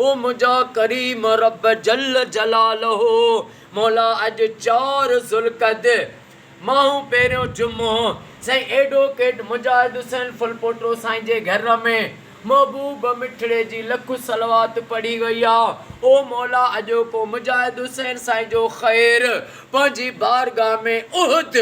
او منهنجا ڪريم رب جل جلاله مولا اڄ چار ذوالقعدي ماهون پهريون جمعو سائين ايڊووڪيٽ مجاهد حسين ڦلپوٽو سائين جي گهر ۾ محبوب مٺڙي جي لک صلوات پڙهي وئي آ او مولا اڄوڪو مجاهد حسين سائين جو خير پنهنجي بارگاهه ۾ احد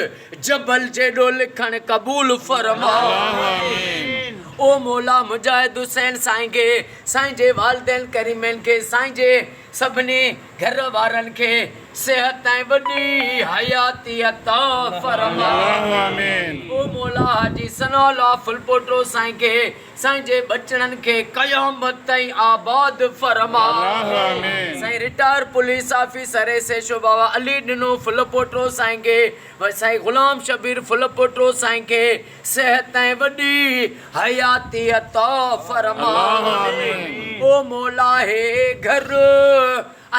جبل جيڏو لکڻ قبول فرما آمين او مولا مجاهد حسين سائين کي سائين جي والدين ڪريمين کي سائين جي سڀني گهر وارن کي صحت ۽ وڏي حياتي عطا فرمائين او مولا حاجي ثناء الله ڦلپوٽو سائين کي سائين جي ٻچڙن کي قيامت تائين آباد فرماء سائين retire police officer S H O Baba Ali ڏنو ڦلپوٽو سائين کي سائين غلام شبير ڦلپوٽو سائين کي صحت ۽ وڏي حياتيء عطا فرماء، او مولا هي گهر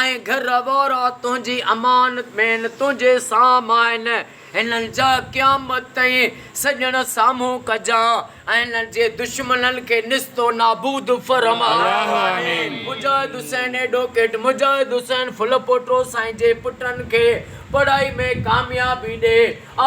۽ گهر وارا تنهنجي امانت ۾ آهن، تنهنجي سام آهن، هنن جا قيامت تائين سڄڻ سامهون ڪجان ۽ هنن جي دشمنن کي نست و نابود فرماء. مجاهد حسين ايڊووڪيٽ مجاهد حسين ڦلپوٽو سائين جي پٽن کي پڙهائي ۾ ڪاميابي ڏي،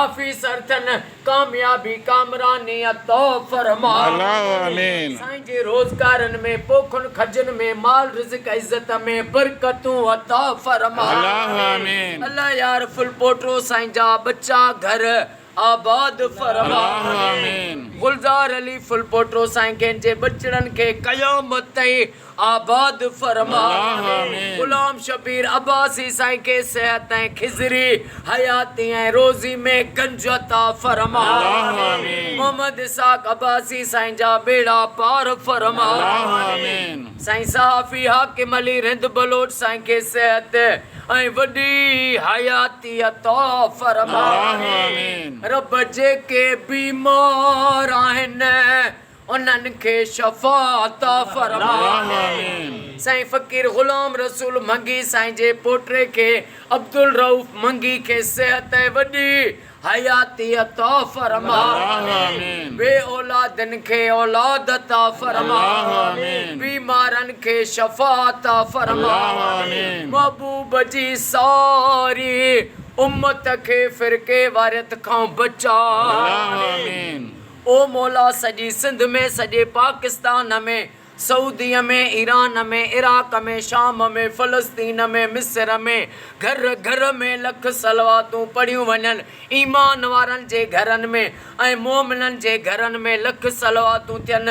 آفيسر ٿين، ڪاميابي ڪامراني عطا فرما. اللّٰه آمين. سائين جي روزگارن ۾ پوکن کجن ۾ مال رزق عزت ۾ برڪتون عطا فرما. اللّٰه آمين. الله يار ڦل پوٽو سائين جا ٻچا گهر آباد فرما. اللّٰه آمين. گلزار علي ڦل پوٽو سائين کين جي ٻچڙن کي قيامت تائين آباد فرما غلام شبير عباسي سائين کي صحت ۽ خضري حياتي ۽ روزي ۾ گنج عطا فرما محمد اسحاق عباسي سائين جا ٻيڙا پار فرما سائين صحافي حاڪم علي رند بلوچ سائين کي صحت ۽ وڏي حياتي عطا فرما رب جيڪي بيمار آهن انهن کي شفا عطا فرماء. سائين فقير غلام رسول منگي سائين جي پوٽي کي عبدالرئوف منگي کي صحت ۽ وڏي حياتي عطا فرماء. بي اولادن کي اولاد عطا فرماء. بيمارن کي شفا عطا فرماء. محبوب جي ساري امت کي فرقيواريت کان بچاء. او مولا سڄي سنڌ ۾ سڄي پاڪستان ۾ سعوديء ۾ ايران ۾ عراق ۾ شام ۾ فلسطين ۾ مصر ۾ گهر گهر ۾ لک صلواتون پڙهيون وڃن ايمان وارن جي گهرن ۾ ۽ مومنن جي گهرن ۾ لک صلواتون ٿين